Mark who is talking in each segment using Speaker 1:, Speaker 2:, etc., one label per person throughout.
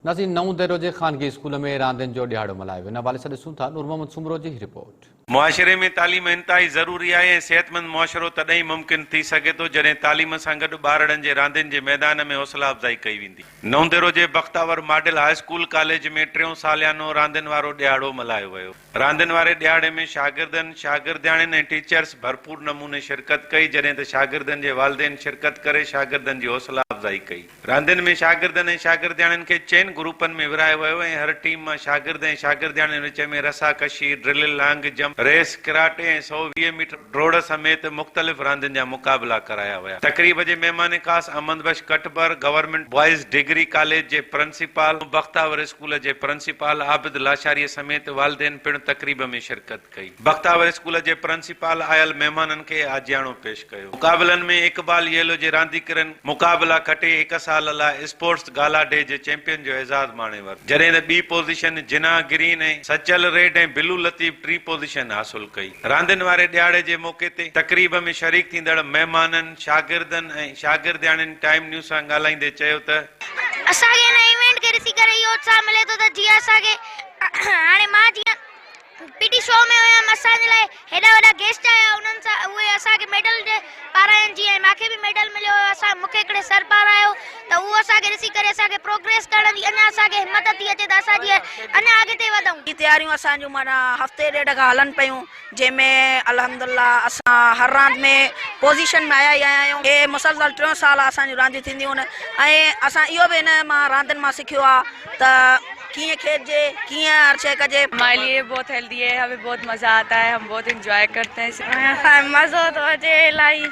Speaker 1: نازين Naudero جي خانگي school ۾ راندين جو ڏهاڙو ملهايو، ان حوالي سان ڏسون ٿا نور محمد سومرو جي هي رپورٽ. معاشري ۾ تعليم
Speaker 2: انتهائي ضروري آهي ۽ صحتمند معاشرو تڏهن ئي ممڪن ٿي سگهي ٿو جڏهن تعليم سان گڏ ٻارڙن جي راندين جي ميدان ۾ حوصلا افزائي ڪئي ويندي. نئون ديرو جي Bakhtawar model high school college ۾ ٽيون ساليانو راندين وارو ڏهاڙو ملهايو ويو. راندين واري ڏهاڙي ۾ شاگردن، شاگردياڻين ۽ ٽيچرز ڀرپور نموني شرڪت ڪئي جڏهن ته شاگردن جي والدين شرڪت ڪري شاگردن جي حوصلا افزائي ڪئي. راندين ۾ شاگردن ۽ شاگردياڻين کي چئن گروپن ۾ ورهايو ويو ۽ هر ٽيم مان شاگرد ۽ شاگردياڻين وچ ۾ رسا ڪشي، drill, long jump, race, karate ۽ سؤ ويهه ميٽر ڊوڙ سميت مختلف راندين جا مقابلا ڪرايا ويا. تقريب جي مهمان خاص Ahmed Bakhsh Katbar government boys degree college جي پرنسپال ۽ بختاور اسڪول جي پرنسپال عابد لاشاريء سميت والدين پڻ تقريب ۾ شرڪت ڪئي. بختاور اسڪول جي پرنسپال آيل مهمانن کي آجياڻو پيش ڪيو. مقابلن ۾ اقبال ييلو جي رانديڪرن مقابلا کٽي هڪ سال لاء اسپورٽس گالا ڊي جي چيمپيئن جو اعزاز ماڻي ورتو، جڏهن ته ٻي position Jinnah green ۽ Sachal red ۽ blue Latif ٽين پوزيشن حاصل ڪئي. راندين واري ڏهاڙي جي موقعي تي تقريب ۾ شريڪ ٿيندڙ مهمانن، شاگردن ۽ شاگردياڻين ٽائيم نيوز سان ڳالهائيندي چيو ته، اسان کي هن
Speaker 3: ايونٽ کي ڏسي ڪري اهو اتساهه ملي ٿو ته جيئن اسان کي هاڻي مان جيئن پي ٽي شو ۾ هيم اسان جي لاء هيڏا وڏا گيسٽ آيا انهن سان اهي اسان کي ميڊل ڏي پارايائين جيئن مان کي به ميڊل مليو هيو اسان مون کي هڪڙي سر پارايو ته اهو اسان کي ڏسي ڪري اسان کي پروگريس ڪرڻ جي اڃا اسان کي همت ٿي اچي ته اسان جيئن اڃا اڳتي وڌون. هي تياريون اسان جون معنيٰ
Speaker 4: هفتي ڏيڍ کان هلن پيون. جنهن ۾ الحمد الله اسان هر راند ۾ پوزيشن ۾ آيا ئي آيا آهيون هي مسلسل ٽيون سال اسان جون رانديون ٿينديون آهن ۽ اسان اهو به هن مان راندين مان سکيو آهي ته ڪيئن کيڏجي ڪيئن هر شيء ڪجي مائي ليئي بهت هيلدي
Speaker 5: هي همي بهت مزا آتا هي هم بهت انجوائي ڪرتي هي مزو ٿو اچي
Speaker 3: الائي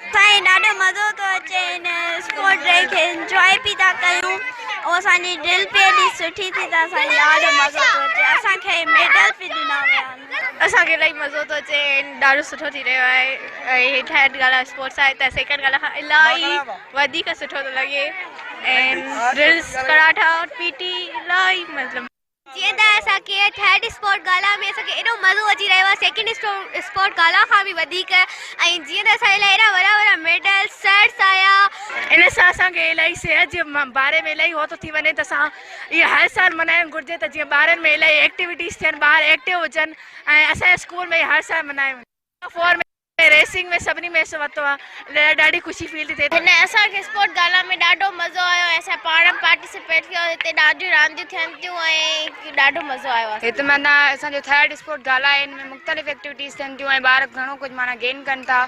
Speaker 3: سائين ڏاڍو مزو ٿو اچي هن اسپورٽ ڊي کي انجوائي پي ٿا ڪيون ۽ اسانجي ڊرل پي ايڏي سٺي ٿي ته سائين ڏاڍو مزو ٿو اچي اسانکي ميڊل پي ڏنا ويا آهن اسانکي الائي مزو ٿو
Speaker 5: اچي ڏاڍو سٺو ٿي رهيو آهي ۽ ٿرڊ ڳالهه اسپورٽس آهي ته سيڪنڊ ڳالهه کان الائي وڌيڪ سٺو ٿو لڳي ۽ ڊرلس ڪراٽا پي ٽي الائي مطلب جيئن ته اسان
Speaker 3: کي ٿرڊ اسپورٽ گالا ۾ اسان کي ايڏو مزو اچي رهيو آهي سيڪنڊ اسپورٽ گالا کان به وڌيڪ ۽ جيئن ته اسان جي لاء ايڏا وڏا وڏا ميڊل سرس آيا ان سان اسان
Speaker 5: کي الائي صحت جي باري ۾ الائي هو ٿو ٿي وڃي ته اسان اهي هر سال منائڻ گهرجي ته جيئن ٻارن ۾ الائي ايڪٽيوٽيز ٿين ٻار ايڪٽو هجن ۽ اسان جي اسڪول ۾ هر سال منايون وڃن هن ريسنگ ۾ سڀني ۾ حصو ورتو آهي ڏاڍي خوشي فيل ٿي ٿي. هن اسان کي اسپورٽ
Speaker 3: گالا ۾ ڏاڍو مزو آيو ۽ اسان پاڻ به پارٽيسپيٽ ڪيو هتي ڏاڍيون رانديون ٿين ٿيون ۽ ڏاڍو مزو آيو اسان کي. هت معنيٰ اسان جو
Speaker 5: ٿرڊ اسپورٽ گالا آهي ان ۾ مختلف ايڪٽيوٽيز ٿين ٿيون ۽ ٻار گهڻو ڪجهه معنيٰ گين ڪن ٿا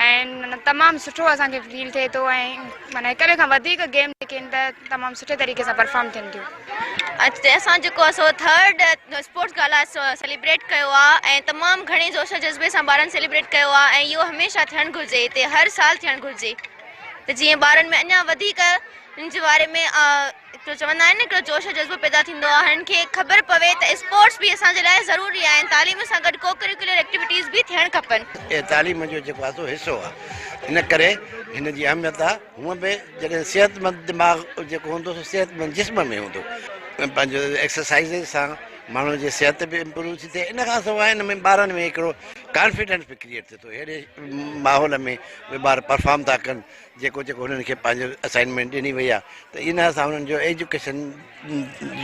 Speaker 5: ۽ معنيٰ تمام سٺو اسان کي فيل ٿئي ٿو ۽ معنيٰ هڪ ٻئي کان وڌيڪ گيم جيڪي آهن ته تمام سٺي طريقي سان پرفارم ٿين ٿيون. اڄ تي اسان
Speaker 3: جيڪو آ سو ٿرڊ اسپورٽس گالا سيليبريٽ ڪيو آ ۽ تمام گهڻي جوش جذبي سان ٻارن سيليبريٽ ڪيو آ ۽ اهو هميشه ٿيڻ گهرجي تي هر سال ٿيڻ گهرجي ته جيئن ٻارن ۾ اڃا وڌيڪ ان جي واري ۾ هڪڙو چوندا آهن نه هڪڙو جوش جذبو پيدا ٿيندو آ هنن کي خبر پوي ته اسپورٽس به اسان جي لاء ضروري آهن تعليم سان گڏ ڪو ڪريڪولر ايڪٽيوٽيز به ٿيڻ کپن اهي تعليم جو جيڪو آ
Speaker 6: سو حصو آ ان ڪري هن جي اهميت آ هونء به جڏهن صحتمند دماغ جيڪو هوندو سو صحتمند جسم ۾ هوندو پنهنجو ايڪسرسائز سان ماڻهو جي صحت به امپروو ٿي ٿئي ان کان سواء ان ۾ ٻارن ۾ هڪڙو ڪانفيڊنس به ڪريئيٽ ٿئي ٿو اهڙي ماحول ۾ اهي ٻار پرفارم ٿا ڪن جيڪو جيڪو هنن کي پنهنجو اسائنمينٽ ڏني وئي آهي ته ان سان هنن جو ايجوڪيشن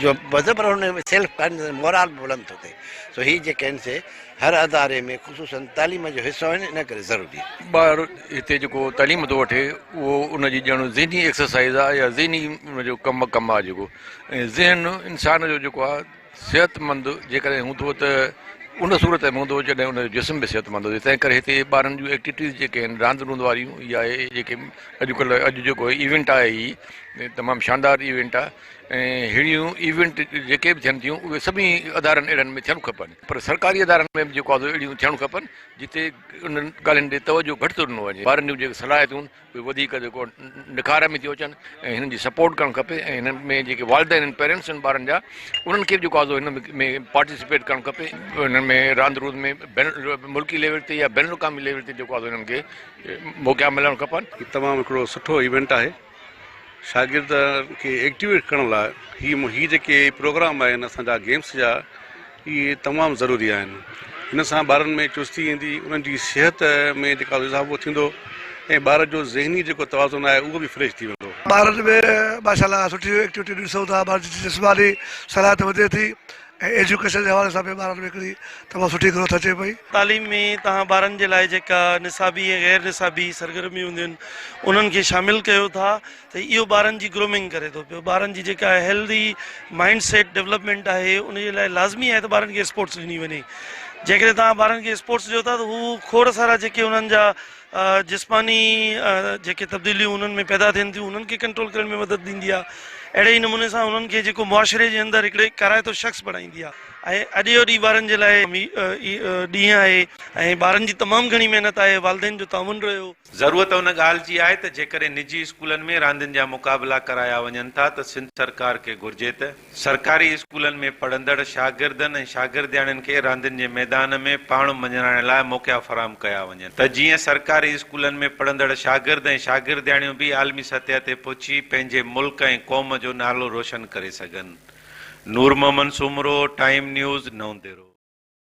Speaker 6: جو وڌ پر ان ۾ سيلف ڪانفيڊنس مورال به بلند ٿو ٿئي سو هي جيڪي آهن سي هر اداري ۾ خصوصا تعليم جو حصو آهن ان ڪري ضروري آهن. ٻار هتي جيڪو
Speaker 7: تعليم ٿو وٺي اهو ان جي ڄڻ ذهني ايڪسرسائز آهي يا ذهني ان جو ڪم ڪم آهي جيڪو ۽ ذهن انسان جو جيڪو آهي صحت مند جيڪڏهن هوندو ته ان صورت ۾ هوندو جڏهن ان جو جسم به صحت مند هجي تنهن ڪري هتي ٻارن جون ايڪٽيوٽيز جيڪي آهن راند روند واريون يا اهي جيڪي اڄ ڪلهه اڄ جيڪو ايونٽ آهي هي تمام شاندار ايونٽ آهي ۽ ههڙيون ايونٽ جيڪي به ٿين ٿيون اهي سڀني ادارن اهڙن ۾ ٿيڻ کپن پر سرڪاري ادارن ۾ به جيڪو آهي اهڙيون ٿيڻ کپن جتي انهن ڳالهين ڏي توجهه گهٽ ٿو ڏنو وڃي ٻارن جون جيڪي صلاحيتون اهي وڌيڪ جيڪو نکار ۾ ٿيون اچن ۽ هنن جي سپورٽ ڪرڻ کپي ۽ هنن ۾ جيڪي والدين آهن پيرنٽس آهن ٻارن جا انهن کي به جيڪو آهي هن ۾ پارٽيسپيٽ ڪرڻ کپي انهن ۾ راند روند ۾ بين ملڪي ليول تي يا بين الاقوامي ليول تي جيڪو آهي انهن کي موقعا ملڻ کپن. هي تمام هڪڙو سٺو
Speaker 8: ايونٽ آهي شاگردن کي ايڪٽيويٽ ڪرڻ لاء هي هي جيڪي پروگرام آهن اسان جا گيمس جا اهي تمام ضروري آهن هن سان ٻارن ۾ چستي ايندي انهن جي صحت ۾ جيڪا اضافو ٿيندو ۽ ٻار جو ذهني جيڪو توازن آهي اهو به فريش ٿي ويندو. ٻارن ۾
Speaker 9: ماشاء الله سٺي ايڪٽيوٽي ڏسون ٿا ٻارن جي جسماني صلاحيت وڌي ٿي ۽ ايجوڪيشن جي حوالي سان به ٻارن ۾ هڪڙي تمام سٺي گروٿ اچي پئي. تعليم ۾ توهان
Speaker 10: ٻارن جي لاء جيڪا نصابي ۽ غير نصابي سرگرميون هونديون آهن انهن کي شامل ڪيو ٿا ته اهو ٻارن جي گرومنگ ڪري ٿو پيو ٻارن جي جيڪا هيلڌي مائنڊ سيٽ ڊولپمينٽ آهي ان جي لاء لازمي آهي ته ٻارن کي اسپورٽس ڏني وڃي جيڪڏهن توهان ٻارن کي اسپورٽس ڏيو ٿا ته هو کوڙ سارا جيڪي انهن جا جسماني جيڪي تبديليون انهن ۾ پيدا ٿين ٿيون انهن کي ڪنٽرول ڪرڻ ۾ مدد ڏيندي آهي اهڙي ئي نموني سان انهن کي جيڪو معاشري جي اندر هڪڙي ڪارائتو شخص بڻائيندي آهي ۽ اڄ جو ڏينهن ٻارن جي لاء ڏينهن آهي ۽ ٻارن جي تمام گهڻي محنت آهي والدين جو تعاون رهيو. ضرورت ان ڳالهه
Speaker 2: جي آهي ته جيڪڏهن نجي اسڪولن ۾ راندين جا مقابلا ڪرايا وڃن ٿا ته سنڌ سرڪار کي گهرجي ته سرڪاري اسڪولن ۾ پڙهندڙ شاگردن ۽ شاگردياڻين کي راندين جي ميدان ۾ پاڻ مڃرائڻ لاء موقعا فراهم ڪيا وڃن ته جيئن سرڪاري اسڪولن ۾ پڙهندڙ شاگرد ۽ شاگردياڻيون به عالمي سطح تي پهچي پنهنجي ملڪ ۽ قوم جو نالو روشن ڪري سگهن نورمحمد سومرو ٽائيم نيوز نونديرو